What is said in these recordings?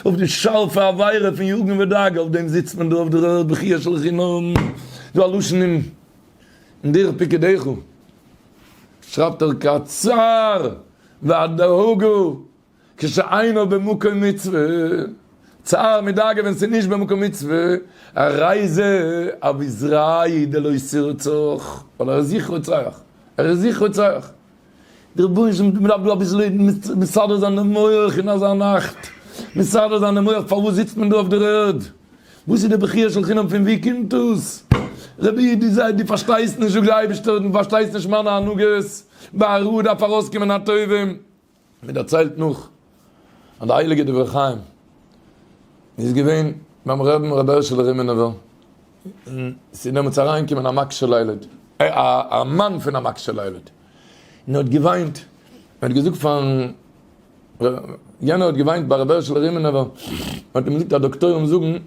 אויף די שארפע עבירה פון יאגן וועט דאגה, אויף דעם זיצט מען דא אויף דער ערד בכיה של חינם, דא א לשון אין דרך פיקודיך שרייבט ער כצער והדאגה כשאינו במקום מצוה, צער מיט דאגה ווען ס'איז נישט במקום מצוה, א רייזע אבי זרעי דלא סירצוך, ווייל ער איז זיך רוצח, ער איז זיך רוצח, די רבנים זאגן דעם רבי אביסל לערנען מיט מסדר זיין די מח אין אזא נאכט מסדר זיין די מח פארוואס זיצט מען דא אויף דער ערד וואס איז די בכיה של חינם פון ווי קומט דאס רבי דו זיי דו פארשטייסט נישט זאג די אייבערשטער דו פארשטייסט נישט מיינע הנהגות ביי א רוה דארף ארויסקומען א טובים. מען דערציילט נאך אז די הייליגע דברי חיים איז געווען ביים רבין רבי הערשעלע רימינובער, און ס'איז דעמאלטס אריינגעקומען א מגשל הילד, א מאן פון א מגשל הילד, און ער האט געוויינט, ער האט געזאגט פארן רב, יענער האט געוויינט ביי רבי הערשעלע רימינובער, מען האט אים געזאגט אז דאקטוירים זאגן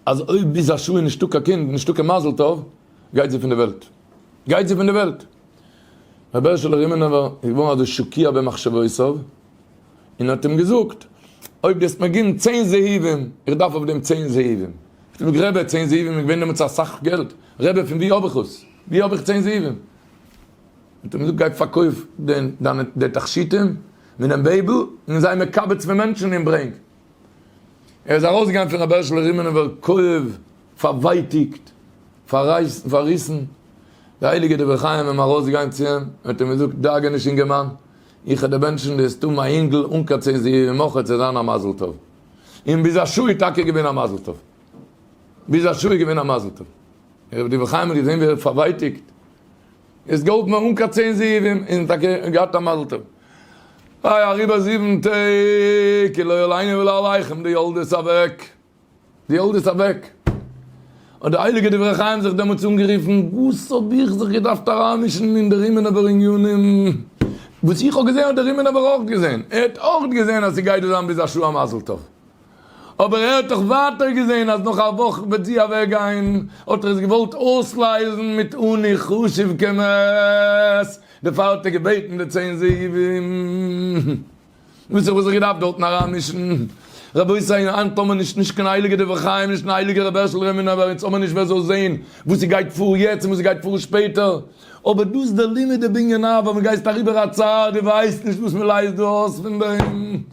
אז אויב ביז א שעה איז נישטא קיין קינד, נישטא קיין מזל טוב, גייט זי פון די וועלט. גייט זי פון די וועלט. רבי הערשעלע רימינובער איז געווארן אזוי שוקירט במחשבותיו און האט אים געזאגט, אויב דו העסט מיר געבן צען זהבים, איך דארף אויף דעם צען זהבים. האט ער געזאגט, רבי, צען זהבים איז געווען דעמאלטס אסאך געלט, רבי, פון וואו האב איך עס? וואו האב איך צען זהבים? האט ער אים געזאגט, גיי פארקויף דיינע תכשיטים, ווי דעם בעיבל, און זיי מקבץ פון מענטשן און ברענג. ער איז אַרױסגעגאַנגען פֿון רבי הערשלער רימענעװער קאָװער פֿאַרװײטיקט, פֿאַררײַסן, פֿאַרריסן. דער הײליקער דבֿר חײם אים אַרױסגעגאַנגען צו אים און האָט אים געזאָגט, דאגה נישט, אינגערמאַן, איך האָב דערבענטשן די סתּם אַ ייִנגל אָן קײן צען זיװג, מוכרח צו זײַן אַ מזל-טובֿ. און ביז אַ שעה איז טאַקע געװען אַ מזל-טובֿ. ביז אַ שעה איז געװען אַ מזל-טובֿ. רבי דבֿר חײם האָט געזען, װי ער װערט פֿאַרװײטיקט. איז געהאלפן ארום קיין צען זיווים און טאקע געהאט א מזל טוב. איי אריבער זיבן טעג כי לא ילינו ולא עליכם די ילד איז אוועק. די ילד איז אוועק. האט די הייליגע דברי חיים זיך דעמאלטס אנגערופן, וואס האב איך זיך געדארפט אריינמישן אין די רימינובער עניינים? וואס איך האב געזען האט דער רימינובער אויך געזען. ער האט אויך געזען אז ס'גייט דא זיין ביז א שעה א מזל טוב. אבער ער האט דאך ווייטער געזען אז נאך א וואך וועט זי אוועקגיין, האט ער עס געוואלט אויסלייזן מיט אני חשוב כמת, דערפאר האט ער געבעטן די צען זאבים. וואס איך וואלט זיך געדארפט דארטן אריינמישן? רבותי, היינט האמער נישט נישט קיין הייליגע דברי חיים, נישט קיין הייליגע רבי הערשל רעמינאווער, אונז האמער נישט ווער זאל זען וואס ס'גייט פאר יעצט און וואס ס'גייט פאר שפעטער, אבער דאס דער לימוד דער בנין אב ווען מ'גייסט אריבער א צרה, דו ווייסט נישט וואס מ'לייזט דא אויס פון דעם.